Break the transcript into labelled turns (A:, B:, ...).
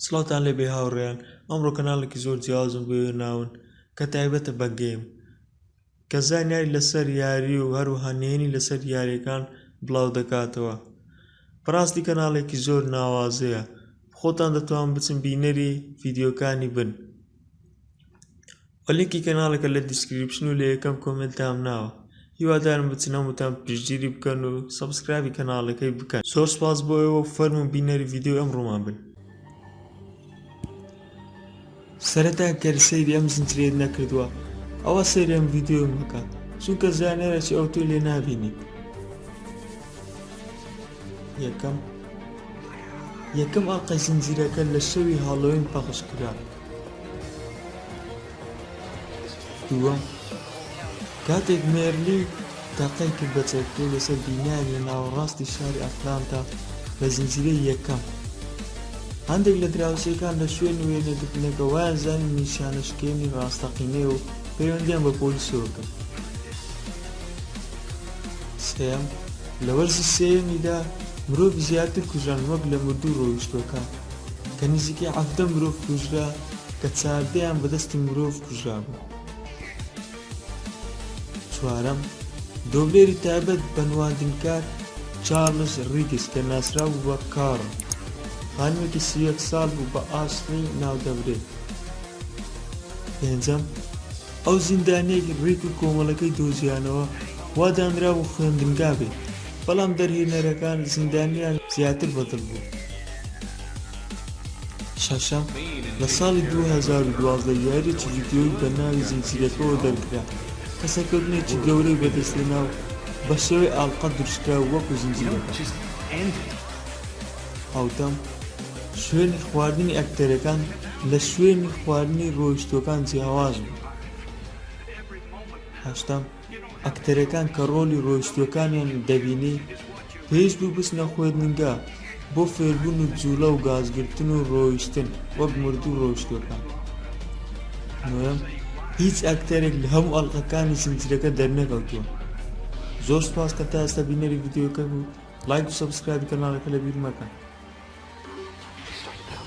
A: سڵاوتان لێ بێ هاوڕێیان ئەمڕۆ کەناڵێکی زۆر جیاوازم بۆ ناون کە تایبەتە بە گەیم کە زانیاری لەسەر یاری و هەروها نێنی لەسەر یاریەکان بڵاو دەکاتەوە بەڕاستی کەناڵێکی زۆر ناوازەیە خۆتان دەتوان بچن بینەری ڤیددیوکانی بن وە لینکی کەناڵەکە لە دیسکریپشن و لە یەکەم کۆمێنتام ناوە هیوادارم بچن هەمووتان پشتگیری بکەن و سەبسکرابی کەناڵەکەی بکەن زۆر سپاس بۆ ئێوە و فەرموون بینەری ڤیدیۆی ئەم ڕوومان بن سەرەتا گەر سەیری ئەم زنجیرەیەت نەکردووە ئەوە سەیری ئەم ڤیدیۆی مەکە چونکە زانێرەی ئەو تۆی لێ نابینیت یەکەم یەکەم ئەڵقەی زنجیرەکە لە شەوی هاڵۆوین پەخش کرا دووەم، کاتێک مێرلی تەقەی کرد بە چەکەکەی لەسەر بینایەک لە ناوەڕاستی شاری ئەتلانتا لە زنجیرەی یەکەم، هەندێک لە دراوسێکان لە شوێنی وێنەگرتنەکە وایانزانی نیشانە شکێنی ڕاستەقینەیە و پەیوەندییان بە پۆلیسەوە کرد. سێیەم، لە وەرزی سێیەمیدا مرۆڤی زیاتر کوژران وەک لە مردوو ڕۆیشتووەکان، کە نزیکەی حەڤدە مرۆڤ کوژرا کە چاردەیان بە دەستی مرۆڤ کوژرابوو. چوارەم، دۆبلێری تایبەت بە نواندنکار چارلس ریگز کە ناسراوبوو بە کارڵ، خانمێکی سی و یەک ساڵ بوو بە ئاسڵی ناودەبرێت. پێنجەم، ئەو زیندانیەی ڕیک و کۆمەڵەکەی دۆزیانەوە وا دانرابوو خوێندنگا بێت، بەڵام دەرهێنەرەکان زیندانیان زیاتر بەدڵ بوو. شەشەم، لە ساڵی دوو هەزار و دوازدە یاریەکی ڤیدیۆیی بە ناوی زنجیرەکەوە دەرکرا کە سەرکەوتنێکی گەورەی بەدەستهێنا و بە شێوەی ئاڵقە دروستکرا وەکو زنجیرەکە. حەوتەم، شوێنی خواردنی ئەکتەرەکان لە شوێنی خواردنی ڕۆیشتووەکان جیاواز بوو. هەشتەم، ئەکتەرەکان کە ڕۆلی ڕۆیشتووەکانیان دەبینی پێویست بوو بچنە خوێندنگا بۆ فێربوون و جووڵە و گازگرتن و ڕۆیشتن وەک مردوو ڕۆیشتووەکان. نۆیەم، هیچ ئەکتەرێک لە هەموو ئەڵقەکانی زنجیرەکە دەرنەکەوتووە. زۆر سوپاس کە تا ئێستا بینەری ڤیدیۆکە بوویت. لایک و سەبسکرایبی کەناڵەکە لەبیر مەکەن.